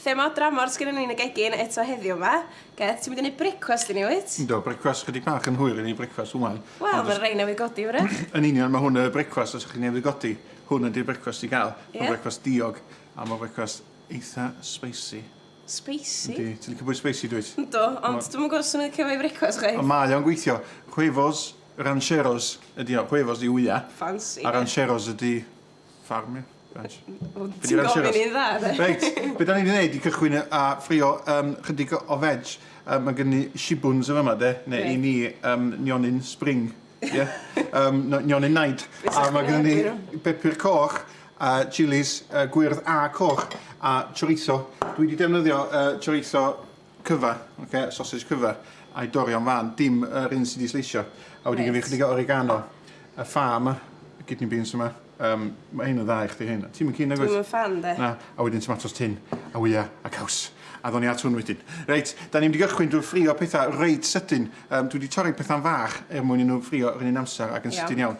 Thema dramor sgynnon ni yn y gegin eto heddiw 'ma. Gareth, ti'n mynd i neud brecwast i ni wyt? Yndw, brecwast chydig bach yn hwyr i neud brecwast ŵan. Wel, ma' rei newydd godi wrach. Yn union, ma' hwn y brecwast os chi newydd godi. Hwn ydi'r brecwast i gael. Ie? Ma'n frecwast diog a ma' frecwast eitha spicy. Spicy? Yndi, ti'n licio bwyd spicy dwyt? Yndw, ond dwi'm yn gwbo os o'n i'n licio fo i frecwast chwaith. Ond mae o'n gweithio. Huevos rancheros ydi o. Huevos yw wya. Ffansi. A rancheros ydi Ffarmio. Ranch. Wel ti'n gofyn i'n dda de. Reit, be da ni wedi gwneud i gychwyn a ffrio um, chydig o veg. Um, mae gen i shibuns yn yma de, neu i ni um, nionyn spring. Ie? Um, nionyn naid. A mae gen i bepur coch, a chilis uh, gwyrdd a coch, a chorizo. Dwi wedi defnyddio uh, chorizo cyfa, okay, sausage cyfa, a'i dori o'n fan, dim yr un sydd wedi sleisio. A wedi gyfeir chydig o oregano, y ffa yma, y kidney beans yma, um, mae hyn yn dda i chdi hyn. Ti'n mynd cyn agos? Dwi'n fan, de. Na, a wedyn tomatos tin, a wya, a caws. A ddoni at hwn wedyn. Reit, da ni'n mynd i gychwyn drwy ffrio pethau reit sydyn. Um, dwi wedi torri pethau'n fach er mwyn i nhw ffrio yr un amser ac yn sydyn iawn.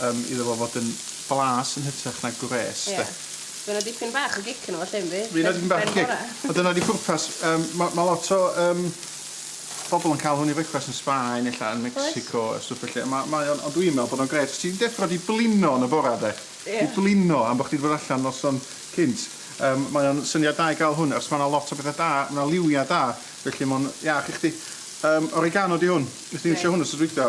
Yym iddo fo fod yn blas yn hytrach na gwres 'de. Ie. Ma' 'na dipyn bach o gic yno fo lle yndi? Be' Fydd 'na dipyn bach o gic. A dyna 'di pwrpas yym ma' ma' lot o yym bobol yn ca'l hwn i frecwast yn Sbaen ella yn Mecsico a stwff felly a ma' mae o'n ond dwi'n me'wl bod o'n grêt os ti'n deffro 'di blino yn y bora 'de. Ie. 'Di blino am bo' chdi 'di bod allan noson cynt yym mae o'n syniad da i ga'l hwn achos ma' 'na lot o bethe da ma' 'na liwia da felly ma' o'n iach i chdi. Yym oregano 'di hwn. Nes di ddim trio hwn wsos dwytha.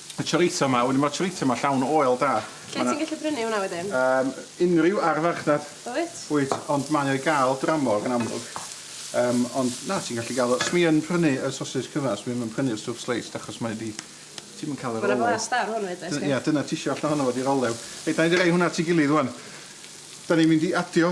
Y chorizo ma, wedyn ma'r chorizo ma llawn oel da. Lle ti'n gallu prynu hwnna wedyn? Yym unrhyw ar farchnad. Wyt? Wyt, ond mae o i ga'l dramor yn amlwg. Yym ond na, ti'n gallu ga'l o. Swn i yn prynu y sosej cyfan, swn i'm yn prynu'r stwff sliced achos mae o 'di... ti'm yn ca'l yr olew. Ma' 'na flas da ar hwn 'fyd, does gen? Ia, dyna tisio allan ohono fo 'di'r olew. Reit, 'nai mynd i roi hwnna at 'i gilydd ŵan. 'Dan ni'n mynd i adio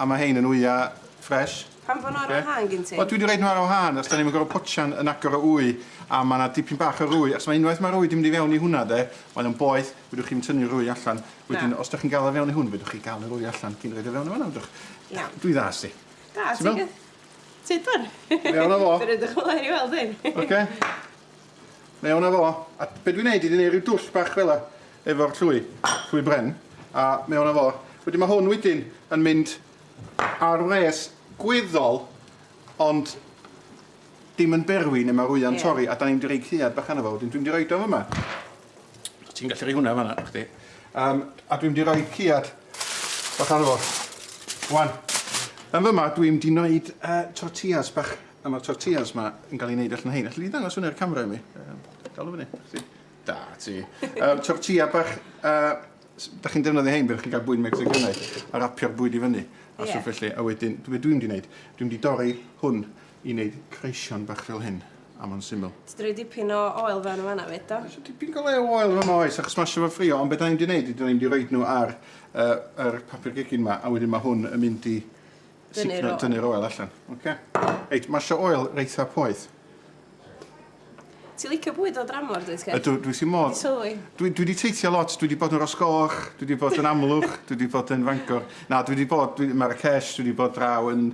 A ma hein yn wya fresh. Pam fo nhw ar wahân gin ti? Wel dwi di roid nhw ar wahân achos da ni'm yn gorfod potsian yn agor o wy a ma na dipyn bach o rwy achos ma unwaith ma'r rwy di mynd i fewn i hwnna de mae o'n boeth fedrwch chi'm tynnu'r rwy allan wedyn os da chi'n gal o fewn i hwn fedrwch chi gal y rwy allan cyn roid o fewn i fanna fedrwch? Iawn. Dwi dda sti. Da ti'n gwbo? Ti'n iawn? Ti'n dwr? Dwi iawn o fo. Dwi reit ddychmygu i weld hyn. Oce. Mewn a fo. A be dwi'n neud ydi neud rhyw dwll bach fela efo'r llwy, llwy bren, a mewn a fo. Wedyn ma' hwn wedyn yn mynd ar wres gweddol ond dim yn berwi ne' ma'r wya'n torri a 'dan ni mynd i roi caead bach arno fo wedyn dwi'n mynd i roid o fyma. So ti'n gallu roi hwnna fan 'na chdi. Yym a dwi'n mynd i roi caead bach arno fo. Wan. Yn fyma dwi'n mynd i neud yy tortillas bach. A mae'r tortillas yma yn cael ei wneud allan o hein. Alli di ddangos hwnna i'r camera i mi? Um, dal o fyny. Chdi. Da ti. Um, tortilla bach... Uh, da chi'n defnyddio hein, byddwch chi'n cael bwyd Mexicanaidd, a rapio'r bwyd i fyny, a yeah. sŵp felly, a wedyn, dwi dwi'n di wneud, dwi'n di dorri hwn i wneud creision bach fel hyn, a mae'n syml. Ti'n dweud dipyn o oel fewn yn fanna fyd, do? Dwi'n dipyn gael o oel fewn oes, achos mae sefyll ffrio, ond beth da ni'n di wneud, dwi'n ni'n di roed nhw ar uh, yr papur gegin yma, a wedyn mae hwn yn mynd i Dynnu'r oil. Dynnu'r oil allan. Okay. Reit, mae sio oil reitha poeth. Ti licio bwyd o dramor, dwi sgef? Ydw, dwi si modd. Dwi, dwi wedi teithio lot, dwi wedi bod yn Rosgoch, dwi wedi bod yn Amlwch, dwi wedi bod yn Fangor. Na, dwi wedi bod, dwi, Marrakesh, dwi wedi bod draw yn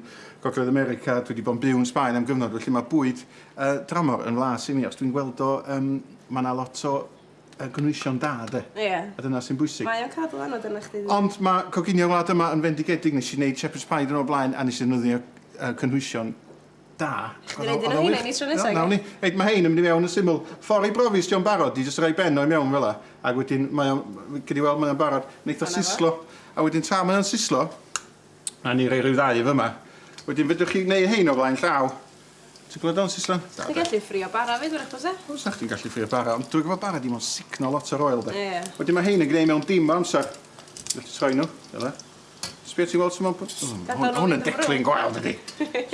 Gogledd America, dwi wedi bod yn byw yn Sbaen am gyfnod, felly mae bwyd uh, dramor yn flas i mi, os dwi'n gweld o, um, mae yna lot o y gynhwysion da, de? Ie. A dyna sy'n bwysig. Mae o'n cadw anad arna chdi. Ond mae coginio wlad yma yn fendigedig. Nes i wneud shepherd's pie dyn o'r blaen a nes i ddefnyddio uh, cynhwysion da. Chdi roed un o hynny ni tro nesaf. Nawn ni. Reit, mae hein yn mynd i mewn yn syml. Ffordd i brofi os di'n barod, di jyst rhoi ben o'i mewn fel la. Ac wedyn, mae o'n, gyd i weld, mae o'n barod. Neitho sislo. A wedyn tra mae o'n sislo, Nawn ni roi rhyw ddau yn fyma. Wedyn fedrwch chi neu' rhein o flaen llaw. Ti'n gweld o'n Sisan? Ti'n gallu ffrio bara 'fyd wrach byse? Fysa chdi'n gallu ffrio bara ond dwi gwbo bara di mo'n sugno lot o'r oil 'de? Ie. Wedyn ma' rhein yn gneu' mewn dim o amsar. Jyst troi nw fel 'a. Sbia ti weld su' ma'n bod? O ma' hwn ma' hwn yn declyn gwael dydi?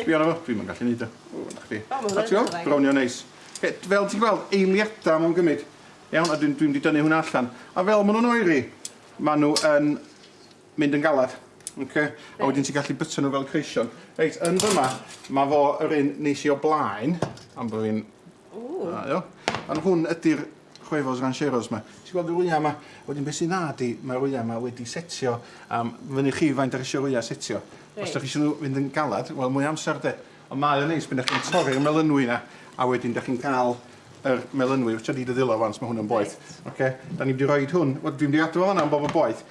Sbia arno fo. Dwi'm yn gallu neud o. O na chdi. O ma' hwnna yn dda. Brownio'n neis. Oce d- fel ti'n gweld eiliada ma' o'n gymyd. Iawn a dwi'n dwi mynd i dynnu hwnna allan. A fel ma' nw'n oeri ma' nw yn mynd yn galed. Oce? A wedyn ti'n gallu byta nhw fel creision. Reit, yn fyma, mae fo yr un nes i o blaen, am bod fi'n... Da iawn. Ond hwn ydy'r Huevos Rancheros ma. Ti'n gweld yr wyau ma? A wedyn be sy'n dda ydy, mae'r wyau ma wedi setio am fyny chi faint dach chi isio'r wyau setio. Os dach chi isio nhw fynd yn galed, wel mwy o amser de. Ond mae o'n neis pan dach chi'n torri'r melynwy yna, a wedyn dach chi'n cael yr melynwy. Waetsa di dy ddwylo ŵan, os mae hwn yn boeth. Oce? Da ni'n mynd i roid hwn, wel dwi'n mynd i adw o fan'na am bo fo'n boeth.